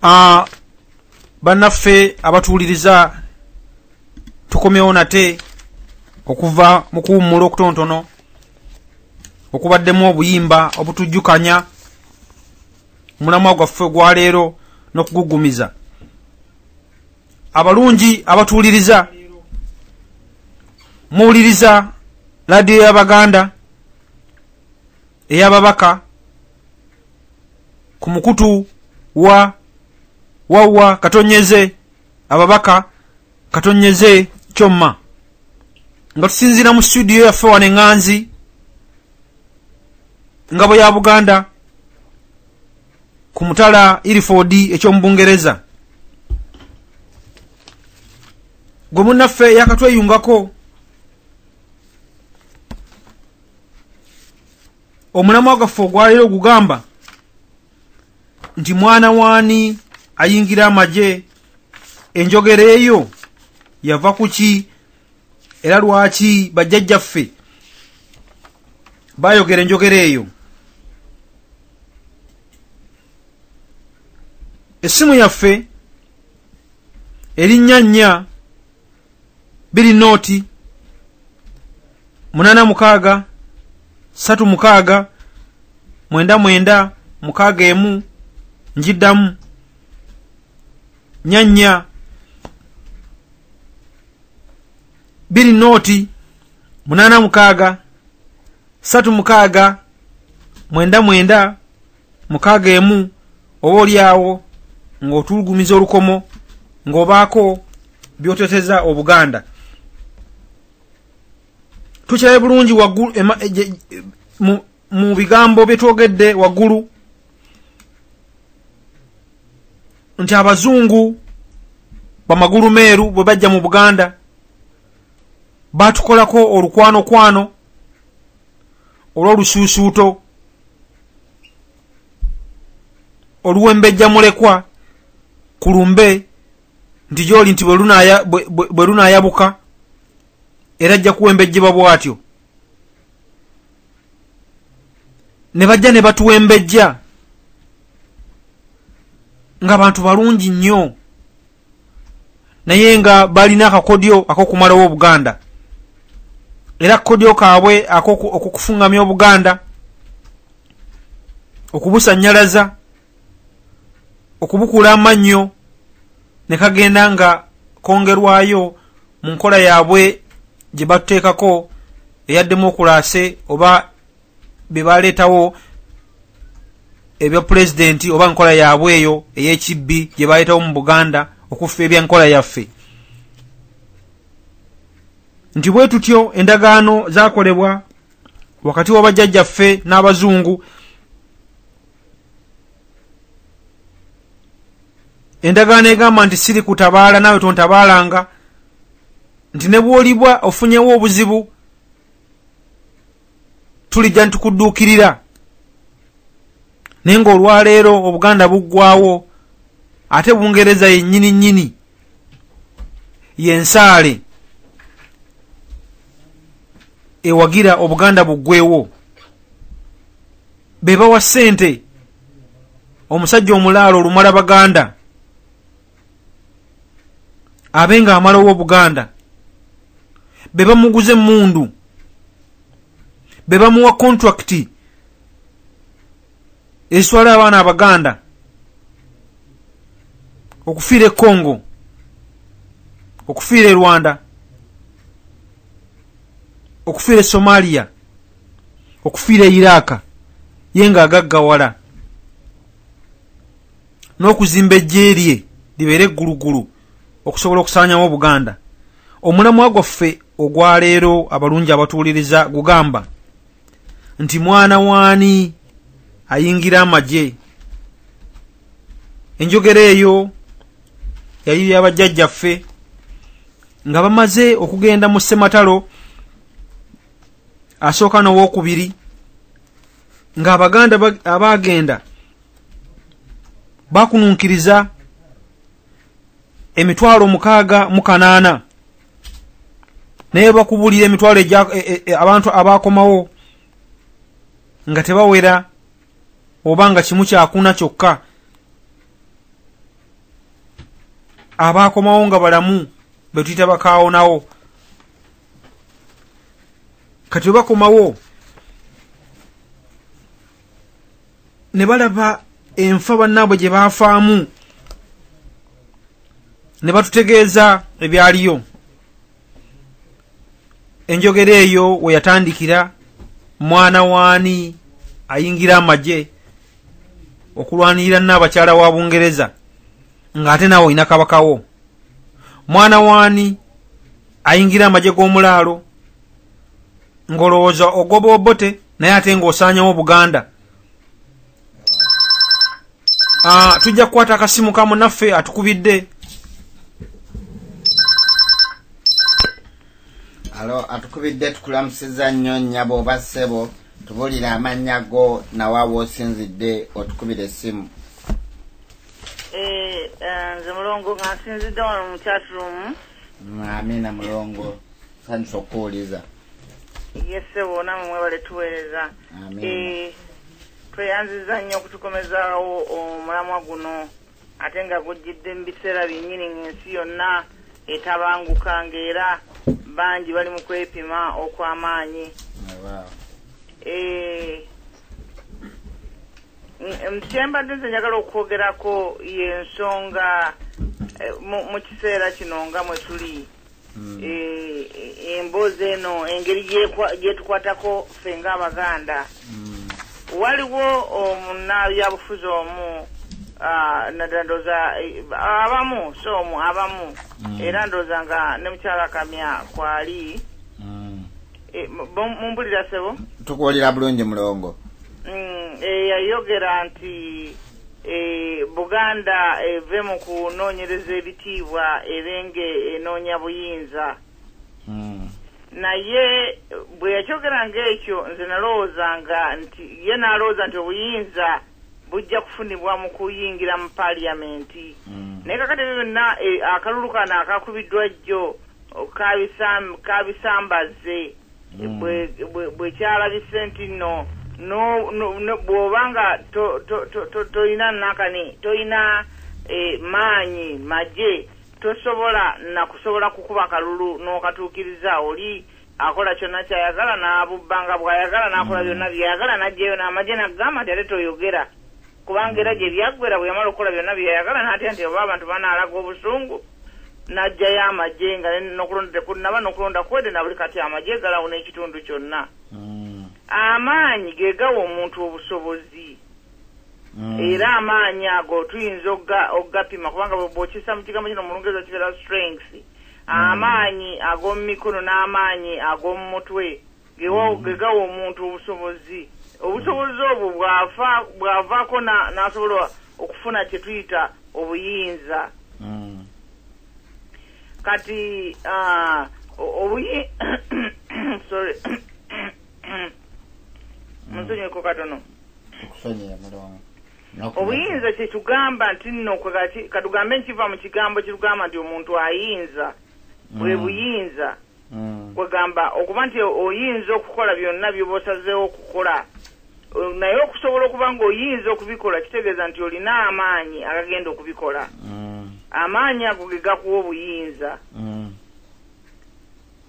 Ah, bannaffe abatuwuliriza tukomyewo nate okuva mu kuwummula okutontono okubaddemu obuyimba obutujjukanya mulamwa gwaffe gwaleero n'okugugumiza abalungi abatuwuliriza muwuliriza laadiyo y'abaganda ey'ababaka ku mukutu wa wawwa katonyeze ababaka katonyeze kyomma nga tusinziira mu situdiyo yaffe wano eŋŋanzi ngabo ya buganda ku mutala iriford ekyomu bungereza gwe munnaffe yakatweyungako omulamwa gwaffe ogwaleero ogugamba nti mwana waani ayingira amagye enjogera eyo yava ku ki era lwaki bajjajjaffe bayogera enjogera eyo essimu yaffe erinnya nnya biri nooti munana mukaaga satu mukaaga mwenda mwenda mukaaga emu njiddamu nyanya biri nooti munana mukaaga satu mukaaga mwenda mwenda mukaaga emu oba olyawo ng'otulugumiza olukomo ng'obaako byoteteza obuganda tukirabe bulungi waggulu mu bigambo byetwogedde waggulu nti abazungu bamagulu meeru bwe bajja mu buganda batukolako olukwanokwano olw'olusuusuuto oluwembejja mulekwa ku lumbe nti gyoli nti bwe lunaayabuka era ajja kuwembejjebwa bw'atyo ne bajja ne batuwembejja nga bantu balungi nnyo naye nga balina akakodyo akokumalawo obuganda era akakodyo kaabwe akokufungamya obuganda okubusanyalaza okubukula amannyo ne kagenda nga kongerwayo mu nkola yaabwe gye batuteekako eya demokulaase oba be baleetawo ebya pulezidenti oba nkola yaabwe eyo ey'ekibbi gye baleetawo mu buganda okuffa ebya nkola yaffe nti bwe tutyo endagaano zakolebwa wakati wa bajjajjaffe n'abazungu endagaano egamba nti siri kutabaala naawe tontabaalanga nti ne bwolibwa ofunyewo obuzibu tulijja nitukudduukirira naye ngaolwaleero obuganda buggwawo ate bungereza yennyini nnyini yensaale ewagira obuganda buggwewo be bawa ssente omusajja omulaalo olumala baganda abe nga amalawo obuganda be bamuguza emmundu be bamuwa kontrakiti eswala abaana abaganda okufiira e congo okufiira e rwanda okufiira e somaliya okufiira iraaka ye nga agaggawala n'okuzimba ejje lye libeere eggulugulu okusobola okusaanyawo obuganda omulamwa gwaffe ogwaleero abalungi abatuwuliriza gugamba nti mwana waani ayingira amagye enjogera eyo yali yabajjajjaffe nga bamaze okugenda mu ssematalo asooka nowokubiri ng'abaganda abaagenda bakununkiriza emitwalo mukaaga mu kanaana naye bakubulira emitwalo e, e, e, abantu abaakomawo nga tebawera oba nga kimu kyakuna kyokka abaakomawo nga balamu betuyita bakaawonawo kati webakomawo ne balaba enfa bannaabwe gye baafaamu ne batutegeeza ebyaliyo enjogera eyo we yatandikira mwana waani ayingira amagye okulwanirira naabakyala wa bungereza ng'ate naawe olina kabakawo mwana waani ayingira amagye g'omulaalo ng'olowooza ogoba obote naye ate ng'osaanyawo buganda ah, tujja kukwata akasimu ka munaffe atukubidde alo atukubidde tukulamusiza nnyo nnyabo oba ssebo tubulire amannya go nawa woosinzidde otukubira essimu eh, eh, nze mulongo nga nsinzidde wano mu chatrumu amina mulongo sanyusa okukuwuliza yesebo namwe mwebale tuweereza eh, tweyanziza nnyo okutukomezawo omulamwa guno ate nga gujjidde mu biseera byennyini ng'ensi yonna etabanguka ng'era bangi bali mu kwepima okw'amaanyi eh, kyembadde nze njagala okwogerako yensonga eh, mu kiseera kino nga mwe tuli hmm. eh, eh, emboozi eno engeri gyetukwatako ffe nga abaganda hmm. waliwo omunabyabufuzi omu ah, nadandoza abamu so omu abamu hmm. era ndoza nga ne mukyala kamya kwali Eh, mumbulira sebo tukuwulira bulungi mulongo mm, eh, yayogera nti eh, buganda eve mu kunoonyereza ebitiibwa ebenge enoonya buyinza mm. naye bwe yakyogera ngaekyo nze nalowoozanga nti ye nalowooza nti obuyinza bujja kufunibwa mu kuyingira mu paliyamenti mm. naye kakati ebyo byonna akalulu kano akakubiddwa jjo kabisambazze hmm. bwekyalabise nti no bwoba nga tolina nakani tolina eh, maanyi maje tosobola nakusobola kukuba kalulu n'okatuukiriza oli akola kyonna kyayagala n'abubba nga bw'ayagala n'akola mm. byonna byeyagala n'ajjayo n'amagye n'agamba nti ate toyogera kubanga era gye byaggwera bwe yamala okukola byonna bye yayagala n'atya nti oba abantu banaalaga obusungu n'aggyayo amagye nga n'okulonda tekunnaba n'okulonda kwede na buli kati amagye galawo n'ekitundu kyonna mm. amaanyi ge gawa omuntu obusobozi mm. era amaanyi ago tuyinza okugapima kubanga bwokisa mu kigambo kino mulungereza kibeera strength mm. amaanyi ag'omu mikono n'amaanyi ag'omu mutwe gegawa omuntu obusobozi obusobozi obwo bwavaako n'asobola okufuna kye tuyita obuyinza hmm. kati ah, obuyi sorry hmm. munsonyeko katono obuyinza kyekigamba nti nno katugambe nkiva mu kigambo kirugamba nti omuntu ayinza bwe hmm. buyinza mm. kwegamba okuba nti oyinza okukola byonna byoba osazeewo okukola naye okusobola okuba nga oyinza okubikola kitegeeza nti olina amaanyi agagenda okubikola mm. amaanyi ago ge gakuwa obuyinza mm.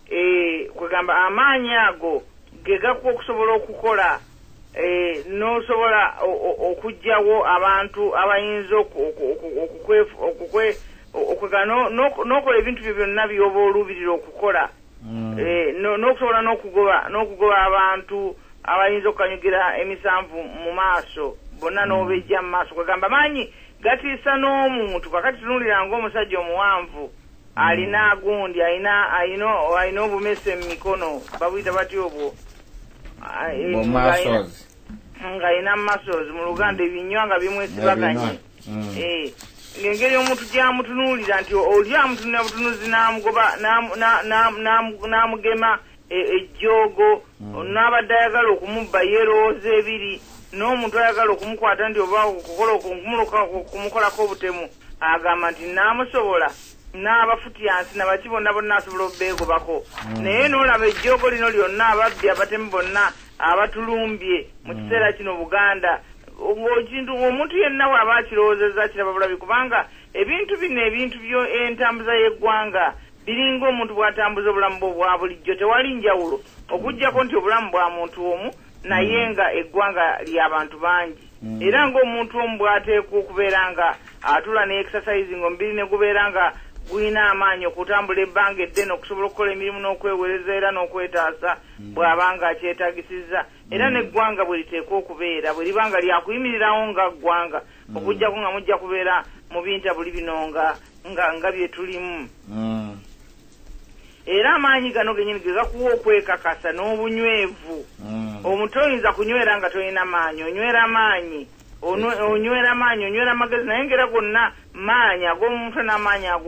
eh, kwegamba amaanyi ago ge gakuwa okusobola okukola eh, n'osobola okugyawo abantu abayinza okwegana n'okola ebintu byo byonna byoba oluubirira okukola mm. eh, n'okusobola n'okugoba abantu abayinza okukanyugira emisanvu mu maaso bonna mm. n'obejja mu maaso kwegamba maanyi gatiisa n'omuntu kakati tunuulira ng'omusajja omuwanvu alina mm. gundi alina alina obumese mu mikono babuyita bati obwo ng'alina masozi mu luganda ebinywa nga bimwesibaganye mm. eh, ng'engeri omuntu gyamutunuulira nti oli amutunulira butunuzi n'amugoba n'amugema e, ejjoogo mm. n'abadde ayagala okumubba yerowooza ebiri n'omuntu ayagala okumukwata nti oba okukola okumukolako obutemu agamba nti naamusobola n'abafutyansi na baki bonna bonna asobola obubeegobako hmm. naye n'olaba ejjoogo lino lyonna ababbi abatemu bonna abatulumbye mu hmm. kiseera kino buganda ngaokintu omuntu yenna waaba akirowoozeza kiraba bulabi kubanga ebintu bino ebintu byo entambuza y'eggwanga biringa omuntu bw'atambuza obulamu bwe obwa bulijjo tewali njawulo okuggyako nti obulamu bwa muntu omu naye mm. nga eggwanga lyabantu bangi mm. era ngaomuntu omu bwateekwa okubeera nga atula ne exercise nga omubiri ne gubeera nga gulina amaanyi okutambula ebbanga eddene okusobola okukola emirimu n'okwewereza era n'okwetaasa mm. bw'abanga akyetagisizza era mm. n'eggwanga bwe liteekwa okubeera bwe liba nga lyakuyimirirawo nga ggwanga mm. okujjako nga mujja kubeera mu bintabuli bino nga nga nga bye tulimu era amaanyi gano genyini gegakuwa okwekakasa n'obunywevu mm. omuntu oyinza kunywera nga tolina maanyi onywera maanyi onywera maanyi onywera magezi naye ngaera gonna maanyi ag'omuntu n'amaanyi ag